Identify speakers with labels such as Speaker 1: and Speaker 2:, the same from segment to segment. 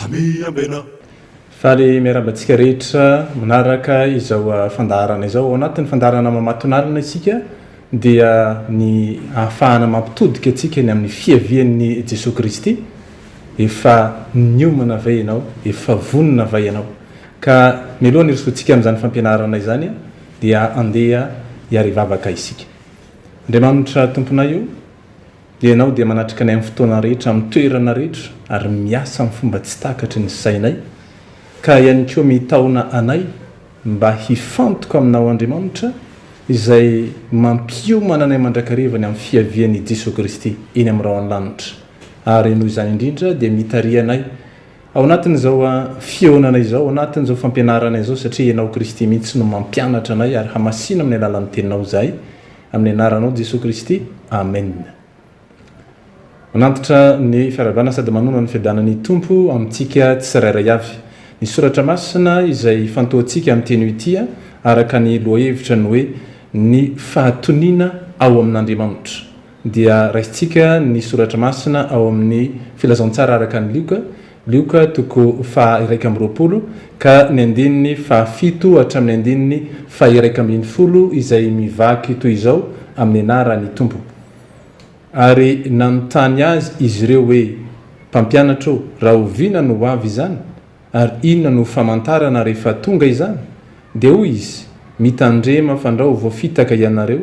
Speaker 1: Hamiambena. Faly
Speaker 2: miarahaba antsika rehetra manaraka izao fandaharana izao. Ao anatin'ny fandaharana mamatonalina isika dia ny ahafahana mampitodika antsika ny amin'ny fiavian'ny Jesoa Kristy. Efa niomana ve ianao? Efa vonona va ianao? Ka mialoha hanirisoantsika amin'izany fampianarana izany dia andeha hiarivavaka isika. Andriamanitra Tomponay o! Ianao dia manatrika anay amin'ny fotoana rehetra, amin'ny toerana rehetra, ary miasa amin'ny fomba tsy takatry ny sainay, ka ihany koa mitaona anay mba hifantoka aminao Andriamanitra izay mampiomana anay mandrakareva ny amin'ny fiavian' i Jesoa Kristy eny amin'ny rahon' ny lanitra, ary noho izany indrindra dia mitariha anay ao anatin'izao fihaonana izao, ao anatin'izao fampianarana izao, satria Ianao Kristy mihitsy no mampianatra anay ary hamasino amin'ny alalan'ny Teninao izahay. Amin'ny anaranao Jesoa Kristy, Amen. Manantitra ny fiarahabana sady manona ny fiadanan'ny Tompo amintsika tsirairay avy. Ny soratra masina izay ifantohantsika amin'ity anio ity araka ny lohahevitra ny hoe Ny fahatoniana ao amin'Andriamanitra dia raisintsika ny soratra masina ao amin'ny Filazantsara araka an'i Lioka, Lioka toko faha iraika amby roapolo ka ny andininy faha fito hatramin'ny andininy faha iraika ambin'ny folo izay mivaky toy izao amin'ny anaran'ny Tompo. Ary nanontany Azy izy ireo hoe, Mpampianatra ô, rahoviana no ho avy izany? Ary inona no ho famantarana rehefa tonga izany? Dia hoy Izy, Mitandrema fandrao vao fitaka ianareo,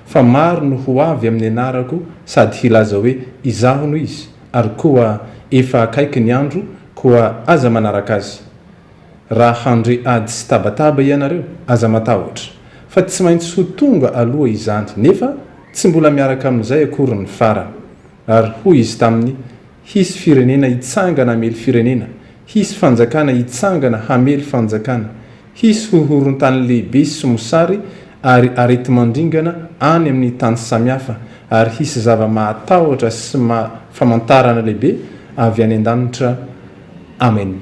Speaker 2: fa maro no ho avy amin'ny anarako sady hilaza hoe, Izaho no Izy, ary koa, Efa akaiky ny andro, koa aza manaraka azy. Raha handre ady sy tabataba ianareo, aza matahotra, fa tsy maintsy ho tonga aloha izany, nefa tsy mbola miaraka amin'izay akory ny farany. Ary hoy izy taminy, Hisy firenena hitsangana hamely firenena, hisy fanjakana hitsangana hamely fanjakana, hisy hohoron-tany lehibe sy mosary ary areti-mandringana any amin' ny tany samihafa, ary hisy zava-mahatahotra sy famantarana lehibe avy any an-danitra. Amena.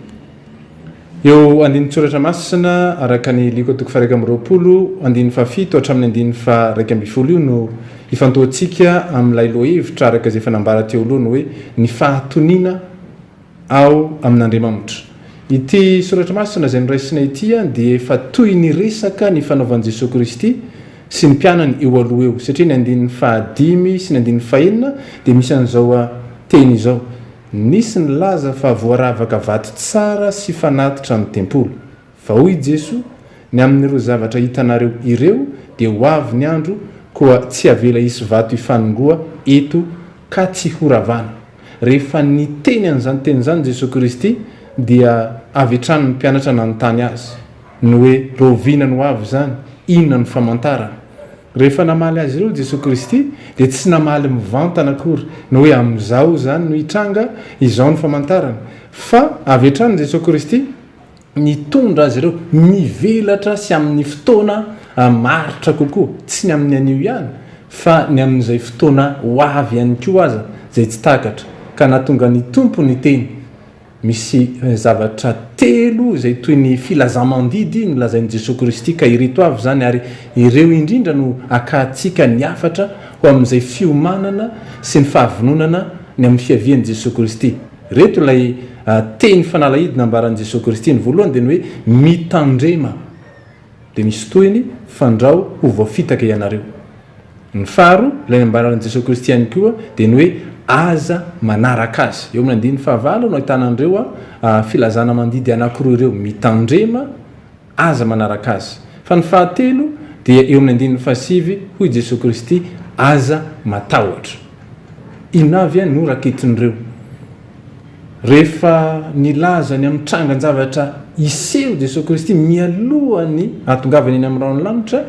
Speaker 2: Eo andinin-tsoratra masina araka ny Liko toko faha-iraika amby roapolo andininy fahafito hatramin'ny andininy faha-iraika ambin'ny folo io no ifantohantsika amin'ilay lohahevitra araka izay efa nambara teo aloha ny hoe ny fahatoniana ao amin'Andriamamtra. Ity soratra masina izay noraisina ity dia efa toy ny resaka ny fanaovan'i Jesoa Kristy sy ny mpianany eo aloha eo satria ny andininy fahadimy sy ny andininy fahenina dia misy an'izao teny izao, Nisy nilaza fa voaravaka vato tsara sy fanatitra ny tempoly. Fa hoy i Jesoa, Ny amin'ireo zavatra hitanareo ireo, dia ho avy ny andro, koa tsy havela hisy vato hifanongoa eto ka tsy horavana. Rehefa niteny an'izany teny izany Jesoa Kristy, dia avy hatrany ny mpianatra nanontany Azy, ny hoe, Rahoviana no ho avy izany? Inona no famantarana? Rehefa namaly azy ireo Jesoa Kristy dia tsy namaly mivantana akory ny hoe amin'izao izany no hitranga izao ny famantarana fa avy hatrany Jesoa Kristy nitondra azy ireo nivelatra sy amin'ny fotoana maharitra kokoa, tsy ny amin'ny anio ihany fa ny amin'izay fotoana ho avy ihany koa aza izay tsy takatra ka nahatonga ny Tompo niteny. Misy zavatra telo izay toy ny filazamandidy nolazain'i Jesoa Kristy ka ireto avy izany ary ireo indrindra no akahantsika ny hafatra ho amin'izay fiomanana sy ny fahavononana ny amin'ny fiavian'i Jesoa Kristy. Ireto ilay teny fanalahidy nambaran'i Jesoa Kristy, ny voalohany dia ny hoe mitandrema. Dia misy tohiny, Fandrao ho voafitaka ianareo. Ny faharoa, ilay nambaran'i Jesoa Kristy ihany koa, dia ny hoe Aza manaraka azy. Eo amin'ny andininy fahavalo no ahitana an'ireo filazana mandidy anankiroa ireo, Mitandrema, Aza manaraka azy. Fa ny fahatelo dia eo amin'ny andininy fahasivy, hoy Jesoa Kristy, Aza matahotra. Inona avy no raketin'ireo? Rehefa nilaza ny amin'ny trangan-javatra hiseho Jesoa Kristy mialohan'ny hahatongavany eny amin'ny rahon'ny lanitra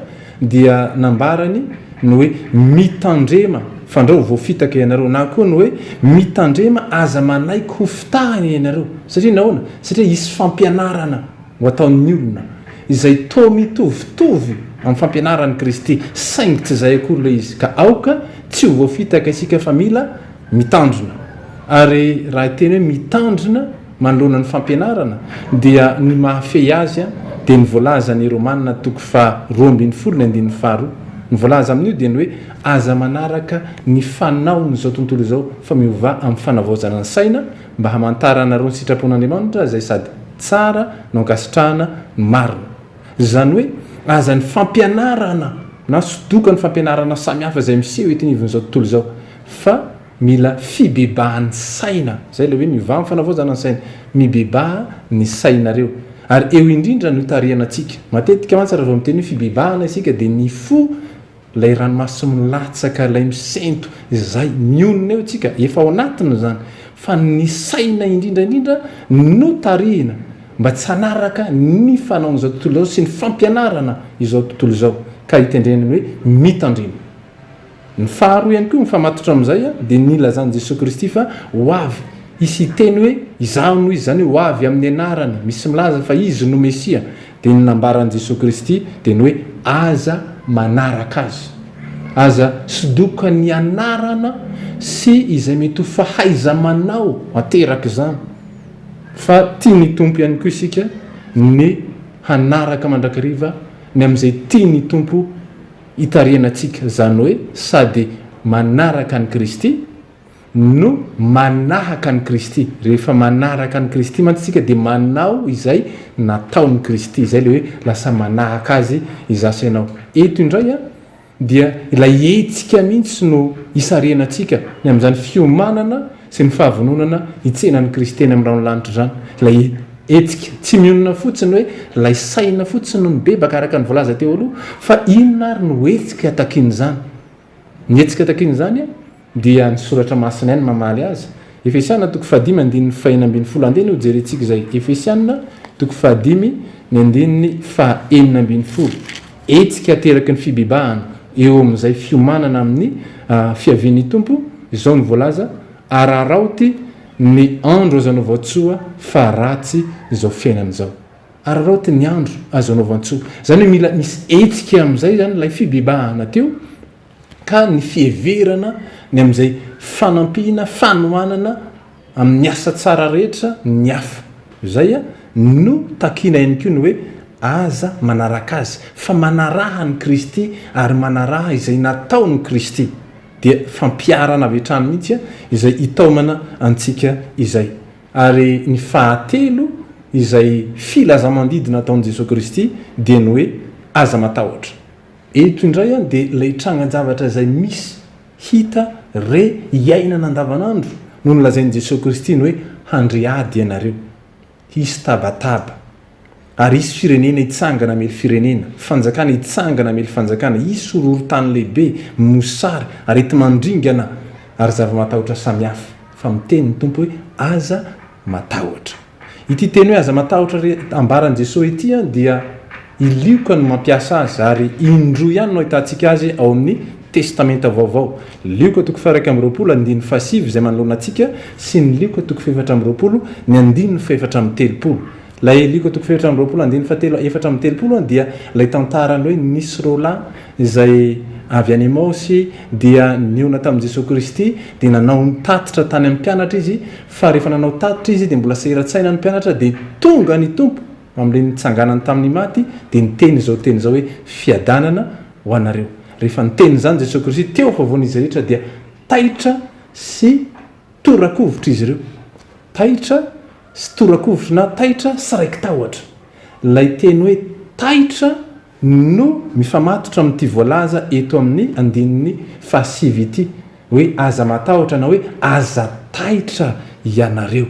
Speaker 2: dia nambarany ny hoe mitandrema fandrao ho voafitaka ianareo na koa ny hoe mitandrema aza manaiky ho fitahina ianareo satria nahoana? Satria hisy fampianarana ho ataon'ny olona izay toa mitovitovy amin'ny fampianaran'i Kristy saingy tsy izay akory ilay izy ka aoka tsy ho voafitaka isika fa mila mitandrina ary raha hiteny hoe mitandrina manoloana ny fampianarana dia ny mahafehy azy dia ny voalazan'i Romana toko faha roa ambin'ny folo ny andininy faha roa. Ny voalaza amin'io dia ny hoe aza manaraka ny fanaon'izao tontolo izao fa miovà amin'ny fanavaozana ny saina mba hamantaranareo ny sitrapon'Andriamanitra izay sady tsara no ankasitrahana no marina. Izany hoe aza ny fampianarana na sodoka ny fampianarana samihafa izay miseho eto anivon'izao tontolo izao Fa mila fibebahan'ny saina, zay ilay hoe miova ny fanavaozana ny saina, mibebaha ny sainareo, ary eo indrindra ny hotarihana antsika. Matetika mantsy raha vao miteny hoe fibebahana isika dia ny fo, ilay ranomaso milatsaka, ilay misento, izay mionona eo isika, efa ao anatiny izany, fa ny saina indrindra indrindra no tarihina mba tsy hanaraka ny fanaon'izao tontolo izao sy ny fampianarana izao tontolo izao, ka hitendreny ny hoe mitandrema. Ny faharoa ihany koa, mifamatotra amin'izay, dia ny nilazan'i Jesoa Kristy fa ho avy. Hisy hiteny hoe, Izaho no Izy, izany hoe ho avy amin'ny anarany. Misy milaza fa Izy no Mesia. Dia ny nambaran'i Jesoa Kristy dia ny hoe, Aza manaraka Azy. Aza sodoka ny anarana sy izay mety ho fahaiza-manao ateraka izany. Fa tian'ny Tompo ihany koa isika ny hanaraka mandrakariva ny amin'izay tian'ny Tompo. Itarihanantsika izany hoe sady manaraka an'i Kristy no manahaka an'i Kristy. Rehefa manaraka an'i Kristy mantsy isika dia manao izay nataon'i Kristy. Izay ilay hoe lasa manahaka Azy izaho sy ianao. Eto indray dia ilay hetsika mihitsy no isarihanantsika, ny amin'izany fiomanana. sy ny fahavononana hitsena an'i Kristy teny amin'ny rahon'ny lanitra izany, ilay hetsika. Tsy mionona fotsiny hoe ilay saina fotsiny no mibebaka, araka ny voalaza teo aloha, fa inona ary no hetsika takian'izany? Ny hetsika takian'izany dia ny Soratra Masina ihany mamaly azy. Efesiana toko fahadimy andininy fahenina ambin'ny folo, andeha anie hojerentsika izay, Efesiana toko fahadimy ny andininy fahenina ambin'ny folo. Hetsika ateraky ny fibebahana eo amin'izay fiomanana amin'ny fiavian'ny Tompo izao no voalaza, Araraoty ny andro azo anaovan-tsoa fa ratsy izao fiainana izao. Araraoty ny andro azo anaovan-tsoa. Izany hoe mila misy hetsika amin'izay izany ilay fibebahana teo. ka ny fiheverana ny amin'izay fanampiana, fanohanana amin'ny asa tsara rehetra ny hafa. Izay no takiana ihany koa ny hoe aza manaraka azy, fa manaraha an'i Kristy ary manaraha izay nataon'i Kristy, dia fampiharana avy hatrany mihitsy izay hitaomana antsika izay. Ary ny fahatelo izay filaza-mandidy nataon'i Jesoa Kristy dia ny hoe aza matahotra. Eto indray an dia ilay trangan-javatra izay misy, hita, re, iainana andavanandro no nolazain'i Jesoa Kristy ny hoe handre ady ianareo, hisy tabataba, ary hisy firenena hitsangana hamely firenena, fanjakana hitsangana hamely fanjakana, hisy horohorontany lehibe, mosary, areti-mandringana, ary zava-matahotra samihafa, fa miteny ny Tompo hoe aza matahotra. Ity teny hoe aza matahotra ry ambaran'i Jesoa ity dia i Lioka no mampiasa azy ary indroa ihany no ahitantsika azy ao amin'ny Testamenta Vaovao, Lioka toko faha-iraika amby roapolo, andininy fahasivy izay manoloana antsika sy ny Lioka toko fahefatra amby roapolo, ny andininy fahefatra amby telopolo. Ilay Lioka toko fahefatra amby roapolo, andininy fahatelo, efatra amby telopolo dia ilay tantaran'ny hoe nisy roa lahy izay avy any Emaosy dia nihaona tamin'i Jesoa Kristy dia nanao ny tatitra tany amin'ny mpianatra izy Fa rehefa nanao tatitra izy dia mbola sahirantsaina ny mpianatra dia tonga ny Tompo amin'ilay nitsanganany tamin'ny maty dia niteny izao teny izao hoe, Fiadanana ho anareo. Rehefa niteny izany Jesoa Kristy teo afovoan'izy rehetra dia taitra sy tora-kovitra izy ireo. Taitra sy tora-kovitra na taitra sy raiki-tahotra. Ilay teny hoe taitra. no mifamatotra amin'ity voalaza eto amin'ny andininy fahasivy ity hoe aza matahotra na hoe aza taitra ianareo.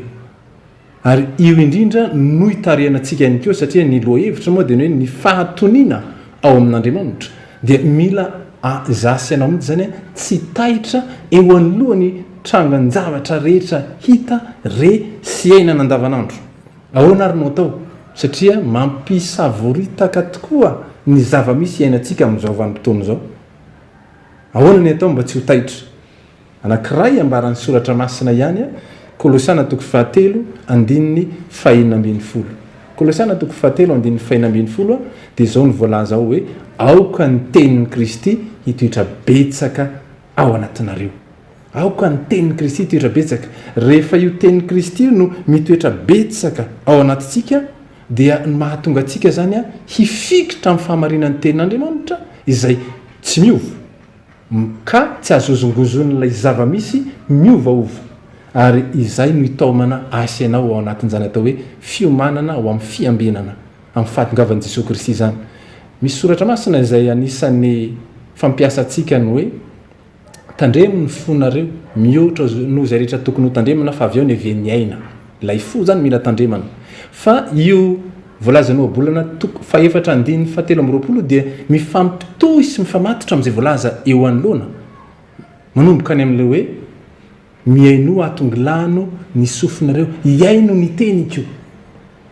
Speaker 2: Ary io indrindra no itarihanantsika ihany koa satria ny lohahevitra moa dia ny hoe ny fahatoniana ao amin'Andriamanitra dia mila izaho sy ianao mihitsy izany tsy taitra eo anoloan'ny trangan-javatra rehetra hita, re sy iainana andavanandro. Ahoana ary no atao? Satria mampisavoritaka tokoa ny zava-misy iainantsika amin'izao vanim-potoana izao. Ahoana ny atao mba tsy ho taitra? Anankiray ambaran'ny Soratra Masina ihany, Kolosiana toko fahatelo andininy fahenina ambin'ny folo. Kolosiana toko fahatelo andininy fahenina ambin'ny folo dia izao no voalaza ao hoe, Aoka ny tenin'i Kristy hitoetra betsaka ao anatinareo. Aoka ny tenin'i Kristy hitoetra betsaka. Rehefa io tenin'i Kristy io no mitoetra betsaka ao anatintsika, dia ny mahatonga antsika izany hifikitra amin'ny fahamarinan'ny tenin'Andriamanitra izay tsy miova, ka tsy azozongozonin'ilay zava-misy miovaova. Ary izay no hitaomana ahy sy ianao ao anatin'izany atao hoe fiomanana ho amin'ny fiambinana amin'ny fahatongavan'i Jesoa Kristy izany. Misy soratra masina izay anisan'ny fampiasantsika ny hoe. Tandremo ny fonareo, mihoatra noho izay rehetra tokony ho tandremana fa avy eo neve ny aina. Ilay fo izany mila tandremana. Fa io voalazan'ny ohabolana toko fahefatra andininy fahatelo amby roapolo dia mifampitohy sy mifamatotra amin'izay voalaza eo anoloana, manomboka any amin'ilay hoe Mihainoa ato ngilano ny sofinareo hihaino ny teniko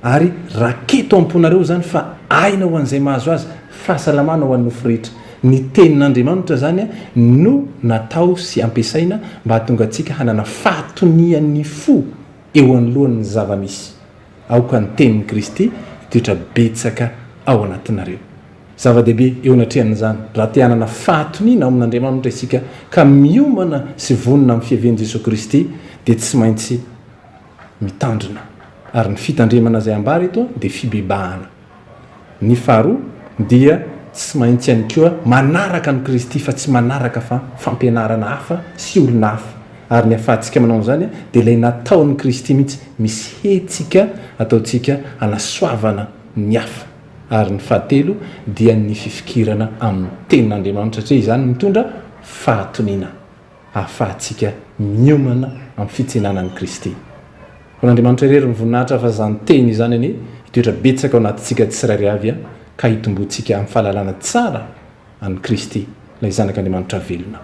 Speaker 2: ary raketo amponareo zany fa aina ho an'izay mahazo azy fahasalamana ho an'ny nofo rehetra ny tenin'Andriamanitra zany no natao sy ampiasaina mba hahatonga antsika hanana fahatonian'ny fo eo anoloan'ny zava-misy aoka ny tenin'i Kristy hitoetra betsaka ao anatinareo Zava-dehibe eo anatrehan'izany, raha te hanana fahatoniana ao amin'Andriamanitra isika ka miomana sy vonona amin'ny fiavian'i Jesoa Kristy, dia tsy maintsy mitandrina. Ary ny fitandremana izay ambara eto dia fibebahana. Ny faharoa dia tsy maintsy ihany koa manaraka an'i Kristy fa tsy manaraka fa fampianarana hafa sy olona hafa. Ary ny ahafahantsika manao an'izany dia ilay nataon'i Kristy mihitsy, misy hetsika ataontsika hanasoavana ny hafa. ary ny fahatelo dia ny fifikirana amin'ny Tenin'Andriamanitra satria izany mitondra fahatoniana ahafahantsika miomana amin'ny fitsenana an'i Kristy. Ho an'Andriamanitra irery ny voninahitra ahafaha izany Teny izany anie hitoetra betsaka ao anatintsika tsirairay avy ka hitomboantsika amin'ny fahalalana tsara an'i Kristy, ilay Zanak'Andriamanitra velona.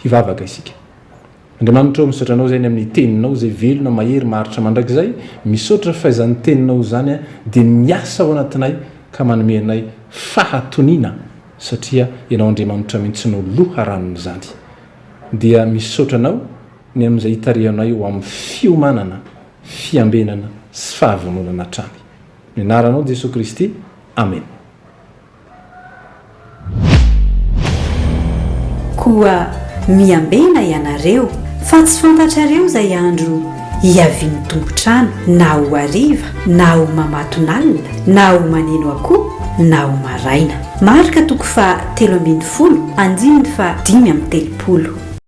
Speaker 2: Hivavaka isika. Andriamanitra ô misaotra anao zay ny amin'ny teninao zay velona mahery maharitra mandrakizay misaotra faizan'ny teninao zany de miasa ao anatinay ka manome anay fahatoniana satria ianao Andriamanitra mintsy no loharanon'izany dia misaotra anao ny amin'izay itarihanay ho amin'ny fiomanana fiambenana sy fahavononana hatrany ny anaranao Jesoa Kristy Amen.
Speaker 1: Koa miambena ianareo, fa tsy fantatrareo izay andro hiavian'ny tompon-trano, na ho hariva, na ho mamatonalina, na ho maneno akoho, na ho maraina. Marka toko faha telo ambin'ny folo, andininy faha dimy amby telopolo.